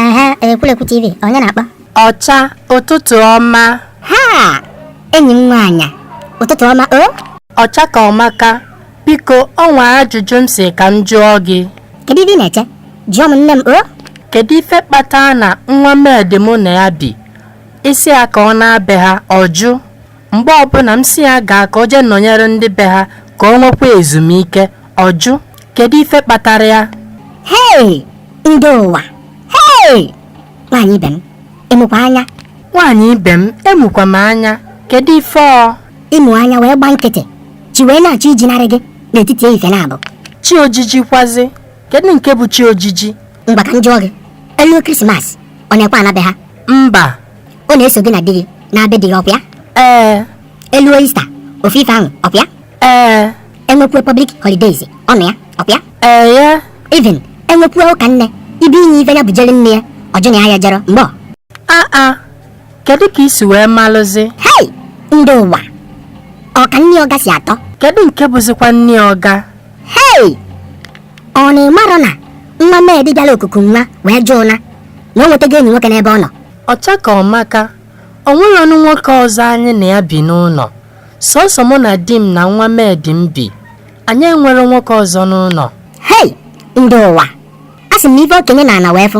aha ekwulekwu tv onye na-akpọ ọcha ụtụtụ ọma ha enyi m nwaanyị ụtụtụ ọma o ọcha ka ọmaka Biko, o nwee ajụjụ m sị ka m jụọ gị. Kedu ife ị na-eche? Jụọ m nne m o. Kedu ife kpatara na nwa maid mụ na ya bi, ị sị ya ka ọ naa be ha, ọ jụ. Mgbe ọbụna m sị ya gaa ka o jee nọnyere ndị be ha ka o nwekwa ezumike, ọ jụ. Kedu ife kpatara ya? Hei! Ndị ụwa! Hei! Nwaanyị ibe m, ị mụkwa anya. Nwaanyị ibe m, amụkwa m anya. Kedu ife ọ? ị mụ anya wee gba nkịtị chi wee na-achọ ijinarị gị n'etiti ehihie naabọ chi ojiji kwazi kedu nke bụ chi ojiji ngwa ka m jụọ gị e luo krismas ọ na-ekwe ana be ha mba ọ na-eso gị na di gị naa be di gị ọkwa ya ee e luo ista ofu ife ahụ ọkwa ya ee e nwekwuo public holidays ọ nọ ya ọkwa ya ee ya even e nwekwuo ụka nne ibe inye ife ya bujere nne ya ọ jụ na ya ejerọ mgbe ọ aa kedu ka i si wee malụzi hei ndị ụwa ọ ka nni ọga si atọ kedu nke bụzikwa nni ọga hei ọ na ị marọ na nwa maid bịara okuku nwa wee jụ ụna na o nwetago enyi nwoke n'ebe ọ nọ ọcha ka ọmaka o nwerọ ọnụ nwoke ọzọ anyị na ya bi n'ụnọ sọsọ mụ na di m na nwa maid m bi anyị enwerọ nwoke ọzọ n'ụnọ hei ndị ụwa a sị m na ife okenye nọ ana wee fụ